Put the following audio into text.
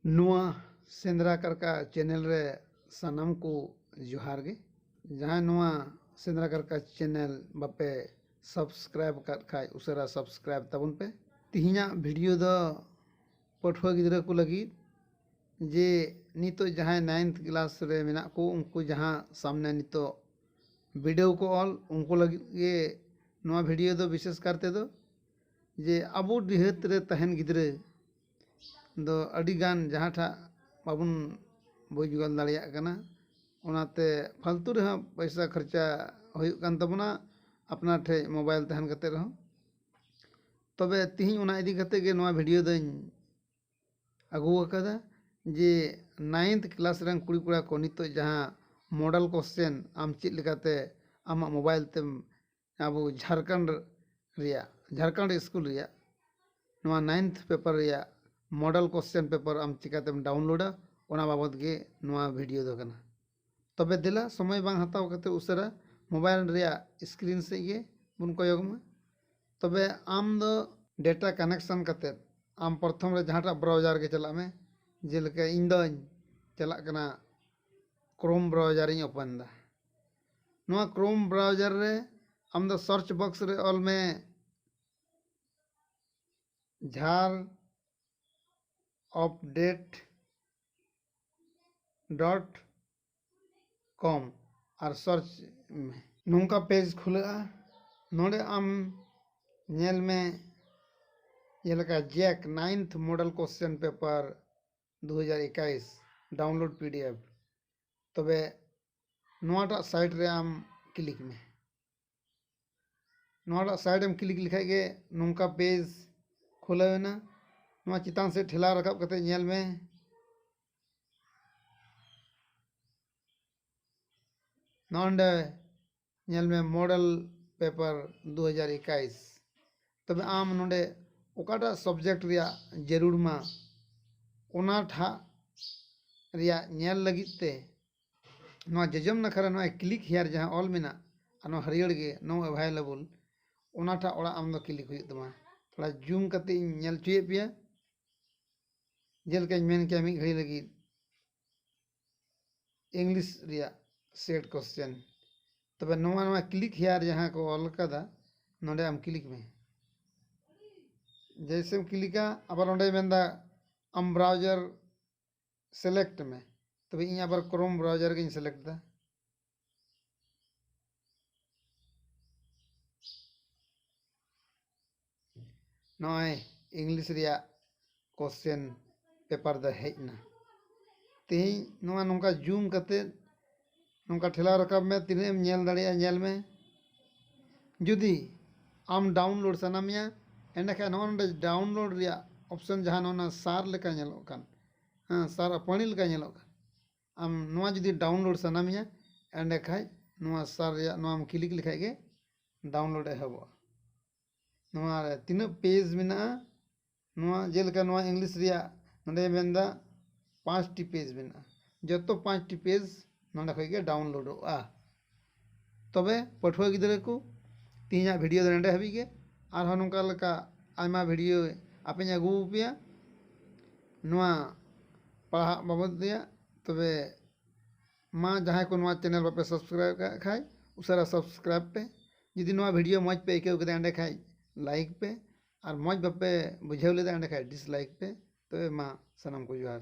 ᱱᱚᱣᱟ ᱥᱮᱸᱫᱽᱨᱟ ᱠᱟᱨᱠᱟ ᱪᱮᱱᱮᱞ ᱨᱮ ᱥᱟᱱᱟᱢ ᱠᱚ ᱡᱚᱦᱟᱨ ᱜᱮ ᱡᱟᱦᱟᱸᱭ ᱱᱚᱣᱟ ᱥᱮᱸᱫᱽᱨᱟ ᱠᱟᱨᱠᱟ ᱪᱮᱱᱮᱞ ᱵᱟᱯᱮ ᱥᱟᱵᱥᱠᱨᱟᱭᱤᱵᱽ ᱟᱠᱟᱫ ᱠᱷᱟᱱ ᱩᱥᱟᱹᱨᱟ ᱥᱟᱵᱥᱠᱨᱟᱭᱤᱵᱽ ᱛᱟᱵᱚᱱ ᱯᱮ ᱛᱮᱦᱮᱧᱟᱜ ᱵᱷᱤᱰᱤᱭᱳ ᱫᱚ ᱯᱟᱹᱴᱷᱩᱣᱟᱹ ᱜᱤᱫᱽᱨᱟᱹ ᱠᱚ ᱞᱟᱹᱜᱤᱫ ᱡᱮ ᱱᱤᱛᱚᱜ ᱡᱟᱦᱟᱸᱭ ᱱᱟᱭᱤᱱᱛᱷ ᱠᱞᱟᱥ ᱨᱮ ᱢᱮᱱᱟᱜ ᱠᱚ ᱩᱱᱠᱩ ᱡᱟᱦᱟᱸ ᱥᱟᱢᱱᱮ ᱱᱤᱛᱚᱜ ᱵᱤᱰᱟᱹᱣ ᱠᱚ ᱚᱞ ᱩᱱᱠᱩ ᱞᱟᱹᱜᱤᱫ ᱜᱮ ᱱᱚᱣᱟ ᱵᱷᱤᱰᱭᱳ ᱫᱚ ᱵᱤᱥᱮᱥ ᱠᱟᱨ ᱛᱮᱫᱚ ᱡᱮ ᱟᱵᱚ ᱰᱤᱦᱟᱹᱛ ᱨᱮ ᱛᱟᱦᱮᱱ ᱜᱤᱫᱽᱨᱟᱹ ᱫᱚ ᱟᱹᱰᱤᱜᱟᱱ ᱡᱟᱦᱟᱸ ᱴᱷᱟᱜ ᱵᱟᱵᱚᱱ ᱵᱩᱡᱽ ᱜᱚᱫ ᱫᱟᱲᱮᱭᱟᱜ ᱠᱟᱱᱟ ᱚᱱᱟᱛᱮ ᱯᱷᱟᱹᱞᱛᱩ ᱨᱮᱦᱚᱸ ᱯᱚᱭᱥᱟ ᱠᱷᱚᱨᱪᱟ ᱦᱩᱭᱩᱜ ᱠᱟᱱ ᱛᱟᱵᱚᱱᱟ ᱟᱯᱱᱟᱨ ᱴᱷᱮᱱ ᱢᱳᱵᱟᱭᱤᱞ ᱛᱟᱦᱮᱱ ᱠᱟᱛᱮᱫ ᱨᱮᱦᱚᱸ ᱛᱚᱵᱮ ᱛᱤᱦᱤᱧ ᱚᱱᱟ ᱤᱫᱤ ᱠᱟᱛᱮ ᱜᱮ ᱱᱚᱣᱟ ᱵᱷᱤᱰᱤᱭᱳ ᱫᱚᱹᱧ ᱟᱹᱜᱩ ᱟᱠᱟᱫᱟ ᱡᱮ ᱱᱟᱭᱤᱱᱛᱷ ᱠᱞᱟᱥ ᱨᱮᱱ ᱠᱩᱲᱤ ᱠᱚᱲᱟ ᱠᱚ ᱱᱤᱛᱚᱜ ᱡᱟᱦᱟᱸ ᱢᱚᱰᱮᱞ ᱠᱚᱥᱪᱮᱱ ᱟᱢ ᱪᱮᱫ ᱞᱮᱠᱟᱛᱮ ᱟᱢᱟᱜ ᱢᱳᱵᱟᱭᱤᱞ ᱛᱮᱢ ᱟᱵᱚ ᱡᱷᱟᱲᱠᱷᱚᱸᱰ ᱨᱮᱭᱟᱜ ᱡᱷᱟᱲᱠᱷᱚᱸᱰ ᱤᱥᱠᱩᱞ ᱨᱮᱭᱟᱜ ᱱᱚᱣᱟ ᱱᱟᱭᱤᱱᱛᱷ ᱯᱮᱯᱟᱨ ᱨᱮᱭᱟᱜ ᱢᱚᱰᱮᱞ ᱠᱚᱥᱪᱮᱱ ᱯᱮᱯᱟᱨ ᱟᱢ ᱪᱤᱠᱟᱹᱛᱮᱢ ᱰᱟᱣᱩᱱᱞᱳᱰᱟ ᱚᱱᱟ ᱵᱟᱵᱚᱫ ᱜᱮ ᱱᱚᱣᱟ ᱵᱷᱤᱰᱤᱭᱳ ᱫᱚ ᱠᱟᱱᱟ ᱛᱚᱵᱮ ᱫᱮᱞᱟ ᱥᱚᱢᱚᱭ ᱵᱟᱝ ᱦᱟᱛᱟᱣ ᱠᱟᱛᱮᱫ ᱩᱥᱟᱹᱨᱟ ᱢᱳᱵᱟᱭᱤᱞ ᱨᱮᱭᱟᱜ ᱥᱠᱨᱤᱱ ᱥᱮᱫ ᱜᱮ ᱵᱚᱱ ᱠᱚᱭᱚᱜᱽ ᱢᱟ ᱛᱚᱵᱮ ᱟᱢ ᱫᱚ ᱰᱮᱴᱟ ᱠᱟᱱᱮᱠᱥᱚᱱ ᱠᱟᱛᱮᱫ ᱟᱢ ᱯᱨᱚᱛᱷᱚᱢ ᱨᱮ ᱡᱟᱦᱟᱸᱴᱟᱜ ᱵᱨᱟᱣᱡᱟᱨ ᱜᱮ ᱪᱟᱞᱟᱜ ᱢᱮ ᱡᱮᱞᱮᱠᱟ ᱤᱧ ᱫᱚᱧ ᱪᱟᱞᱟᱜ ᱠᱟᱱᱟ ᱠᱨᱳᱢ ᱵᱨᱟᱣᱡᱟᱨ ᱤᱧ ᱳᱯᱮᱱ ᱮᱫᱟ ᱱᱚᱣᱟ ᱠᱨᱳᱢ ᱵᱨᱟᱣᱡᱟᱨ ᱨᱮ ᱟᱢ ᱫᱚ ᱥᱟᱨᱪ ᱵᱚᱠᱥ ᱨᱮ ᱚᱞ ᱢᱮ ᱡᱷᱟᱨ ᱚᱯᱰᱮᱴ ᱰᱚᱴ ᱠᱚᱢ ᱟᱨ ᱥᱟᱨᱪ ᱢᱮ ᱱᱚᱝᱠᱟ ᱯᱮᱡᱽ ᱠᱷᱩᱞᱟᱹᱜᱼᱟ ᱱᱚᱰᱮ ᱟᱢ ᱧᱮᱞ ᱢᱮ ᱡᱮᱞᱮᱠᱟ Jack ninth model question paper ᱫᱩ ᱦᱟᱡᱟᱨ ᱮᱠᱟᱭᱤᱥ ᱰᱟᱣᱩᱱᱞᱳᱰ ᱯᱤ ᱰᱤ ᱮᱯᱷ ᱛᱚᱵᱮ ᱱᱚᱣᱟᱴᱟᱜ ᱥᱟᱭᱤᱴ ᱨᱮ ᱟᱢ ᱠᱞᱤᱠ ᱢᱮ ᱱᱚᱣᱟ ᱴᱟᱜ ᱥᱟᱭᱤᱰ ᱮᱢ ᱠᱞᱤᱠ ᱞᱮᱠᱷᱟᱡ ᱜᱮ ᱱᱚᱝᱠᱟ ᱯᱮᱡᱽ ᱠᱷᱩᱞᱟᱹᱣ ᱮᱱᱟ ᱱᱚᱣᱟ ᱪᱮᱛᱟᱱ ᱥᱮᱫ ᱴᱷᱮᱞᱟᱣ ᱨᱟᱠᱟᱵ ᱠᱟᱛᱮ ᱧᱮᱞ ᱢᱮ ᱱᱚᱸᱰᱮ ᱧᱮᱞ ᱢᱮ ᱢᱚᱰᱮᱞ ᱯᱮᱯᱟᱨ ᱫᱩ ᱦᱟᱡᱟᱨ ᱮᱠᱟᱭᱤᱥ ᱛᱚᱵᱮ ᱟᱢ ᱱᱚᱸᱰᱮ ᱚᱠᱟᱴᱟᱜ ᱥᱚᱵᱽᱡᱮᱠᱴ ᱨᱮᱭᱟᱜ ᱡᱟᱹᱨᱩᱲ ᱢᱟ ᱚᱱᱟ ᱴᱷᱟᱜ ᱨᱮᱭᱟᱜ ᱧᱮᱞ ᱞᱟᱹᱜᱤᱫ ᱛᱮ ᱱᱚᱣᱟ ᱡᱚᱡᱚᱢ ᱱᱟᱠᱷᱟ ᱨᱮ ᱱᱚᱜᱼᱚᱭ ᱠᱞᱤᱠ ᱦᱮᱭᱟᱨ ᱡᱟᱦᱟᱸ ᱚᱞ ᱢᱮᱱᱟᱜ ᱟᱨ ᱱᱚᱣᱟ ᱦᱟᱹᱨᱭᱟᱹᱲ ᱜᱮ ᱱᱳ ᱮᱵᱷᱟᱭᱞᱮᱵᱚᱞ ᱚᱱᱟᱴᱟᱜ ᱚᱲᱟᱜ ᱟᱢᱫᱚ ᱠᱞᱤᱠ ᱦᱩᱭᱩᱜ ᱛᱟᱢᱟ ᱛᱷᱚᱲᱟ ᱡᱩᱢ ᱠᱟᱛᱮ ᱤᱧ ᱧᱮᱞ ᱦᱚᱪᱚᱭᱮᱫ ᱯᱮᱭᱟ ᱡᱮᱞᱮᱠᱟᱧ ᱢᱮᱱ ᱠᱮᱭᱟ ᱢᱤᱫ ᱜᱷᱟᱹᱲᱤ ᱞᱟᱹᱜᱤᱫ ᱤᱝᱞᱤᱥ ᱨᱮᱭᱟᱜ ᱥᱮᱴ ᱠᱚᱥᱪᱮᱱ ᱛᱚᱵᱮ ᱱᱚᱣᱟ ᱱᱚᱣᱟ ᱠᱞᱤᱠ ᱦᱮᱭᱟᱨ ᱡᱟᱦᱟᱸ ᱠᱚ ᱚᱞ ᱠᱟᱫᱟ ᱱᱚᱰᱮ ᱟᱢ ᱠᱞᱤᱠ ᱢᱮ ᱡᱮᱭᱥᱮᱢ ᱠᱞᱤᱠᱟ ᱟᱵᱟᱨ ᱚᱸᱰᱮᱭ ᱢᱮᱱᱫᱟ ᱟᱢ ᱵᱨᱟᱣᱡᱟᱨ ᱥᱮᱞᱮᱠᱴ ᱢᱮ ᱛᱚᱵᱮ ᱤᱧ ᱟᱵᱟᱨ ᱠᱨᱳᱢ ᱵᱨᱟᱣᱡᱟᱨ ᱜᱤᱧ ᱥᱮᱞᱮᱠᱴ ᱮᱫᱟ ᱱᱚᱜᱼᱚᱭ ᱤᱝᱞᱤᱥ ᱨᱮᱭᱟᱜ ᱠᱚᱥᱪᱮᱱ ᱯᱮᱯᱟᱨ ᱫᱚ ᱦᱮᱡ ᱮᱱᱟ ᱛᱮᱦᱮᱧ ᱱᱚᱣᱟ ᱱᱚᱝᱠᱟ ᱡᱩᱢ ᱠᱟᱛᱮᱫ ᱱᱚᱝᱠᱟ ᱴᱷᱮᱞᱟᱣ ᱨᱟᱠᱟᱵ ᱢᱮ ᱛᱤᱱᱟᱹᱜ ᱮᱢ ᱧᱮᱞ ᱫᱟᱲᱮᱭᱟᱜᱼᱟ ᱧᱮᱞ ᱢᱮ ᱡᱩᱫᱤ ᱟᱢ ᱰᱟᱣᱩᱱᱞᱳᱰ ᱥᱟᱱᱟ ᱢᱮᱭᱟ ᱮᱸᱰᱮ ᱠᱷᱟᱱ ᱱᱚᱜᱼᱚᱭ ᱱᱚᱰᱮ ᱰᱟᱣᱩᱱᱞᱳᱰ ᱨᱮᱭᱟᱜ ᱚᱯᱷᱥᱮᱱ ᱡᱟᱦᱟᱸ ᱱᱚᱜᱼᱚᱭ ᱱᱚᱣᱟ ᱥᱟᱨ ᱞᱮᱠᱟ ᱧᱮᱞᱚᱜ ᱠᱟᱱ ᱦᱮᱸ ᱥᱟᱨ ᱟᱨ ᱯᱟᱹᱬᱤ ᱞᱮᱠᱟ ᱧᱮᱞᱚᱜ ᱠᱟᱱ ᱟᱢ ᱱᱚᱣᱟ ᱡᱩᱫᱤ ᱰᱟᱣᱩᱱᱞᱳᱰ ᱥᱟᱱᱟ ᱢᱮᱭᱟ ᱮᱸᱰᱮ ᱠᱷᱟᱱ ᱱᱚᱣᱟ ᱥᱟᱨ ᱨᱮᱭᱟᱜ ᱱᱚᱣᱟᱢ ᱠᱞᱤᱠ ᱞᱮᱠᱷᱟᱱ ᱜᱮ ᱰᱟᱣᱩᱱᱞᱳᱰ ᱮᱦᱚᱵᱚᱜᱼᱟ ᱱᱚᱣᱟ ᱨᱮ ᱛᱤᱱᱟᱹᱜ ᱯᱮᱡᱽ ᱢᱮᱱᱟᱜᱼᱟ ᱱᱚᱣᱟ ᱡᱮᱞᱮᱠᱟ ᱱᱚᱣᱟ ᱤᱝᱞᱤᱥ ᱨᱮᱭᱟᱜ ᱱᱚᱰᱮ ᱢᱮᱱᱫᱟ ᱯᱟᱸᱪᱴᱤ ᱯᱮᱡᱽ ᱢᱮᱱᱟᱜᱼᱟ ᱡᱚᱛᱚ ᱯᱟᱸᱪᱴᱤ ᱯᱮᱡᱽ ᱱᱚᱰᱮ ᱠᱷᱚᱡ ᱜᱮ ᱰᱟᱣᱩᱱᱞᱳᱰᱚᱜᱼᱟ ᱛᱚᱵᱮ ᱯᱟᱹᱴᱷᱩᱣᱟᱹ ᱜᱤᱫᱽᱨᱟᱹ ᱠᱚ ᱛᱮᱦᱮᱧᱟᱜ ᱵᱷᱤᱰᱭᱳ ᱫᱚ ᱱᱚᱰᱮ ᱦᱟᱹᱵᱤᱡ ᱜᱮ ᱟᱨᱦᱚᱸ ᱱᱚᱝᱠᱟ ᱞᱮᱠᱟ ᱟᱭᱢᱟ ᱵᱷᱤᱰᱭᱳ ᱟᱯᱮᱧ ᱟᱹᱜᱩ ᱟᱯᱮᱭᱟ ᱱᱚᱣᱟ ᱯᱟᱲᱦᱟᱜ ᱵᱟᱵᱚᱫ ᱨᱮᱭᱟᱜ ᱛᱚᱵᱮ ᱢᱟ ᱡᱟᱦᱟᱸᱭ ᱠᱚ ᱱᱚᱣᱟ ᱪᱮᱱᱮᱞ ᱵᱟᱯᱮ ᱥᱟᱵᱥᱠᱨᱟᱭᱤᱵᱽ ᱠᱟᱜ ᱠᱷᱟᱡ ᱩᱥᱟᱹᱨᱟ ᱥᱟᱵᱥᱠᱨᱟᱭᱤᱵᱽ ᱯᱮ ᱡᱩᱫᱤ ᱱᱚᱣᱟ ᱵᱷᱤᱰᱭᱳ ᱢᱚᱡᱽ ᱯᱮ ᱟᱹᱭᱠᱟᱹᱣ ᱠᱮᱫᱟ ᱮᱸᱰᱮᱠᱷᱟᱡ ᱞᱟᱭᱤᱠ ᱯᱮ ᱟᱨ ᱢᱚᱡᱽ ᱵᱟᱯᱮ ᱵᱩᱡᱷᱟᱹᱣ ᱞᱮᱫᱟ ᱮᱸᱰᱮᱠᱷᱟᱱ ᱰᱤᱥᱞᱟᱭᱤᱠ ᱯᱮ ᱛᱚᱵᱮ ᱢᱟ ᱥᱟᱱᱟᱢ ᱠᱚ ᱡᱚᱦᱟᱨ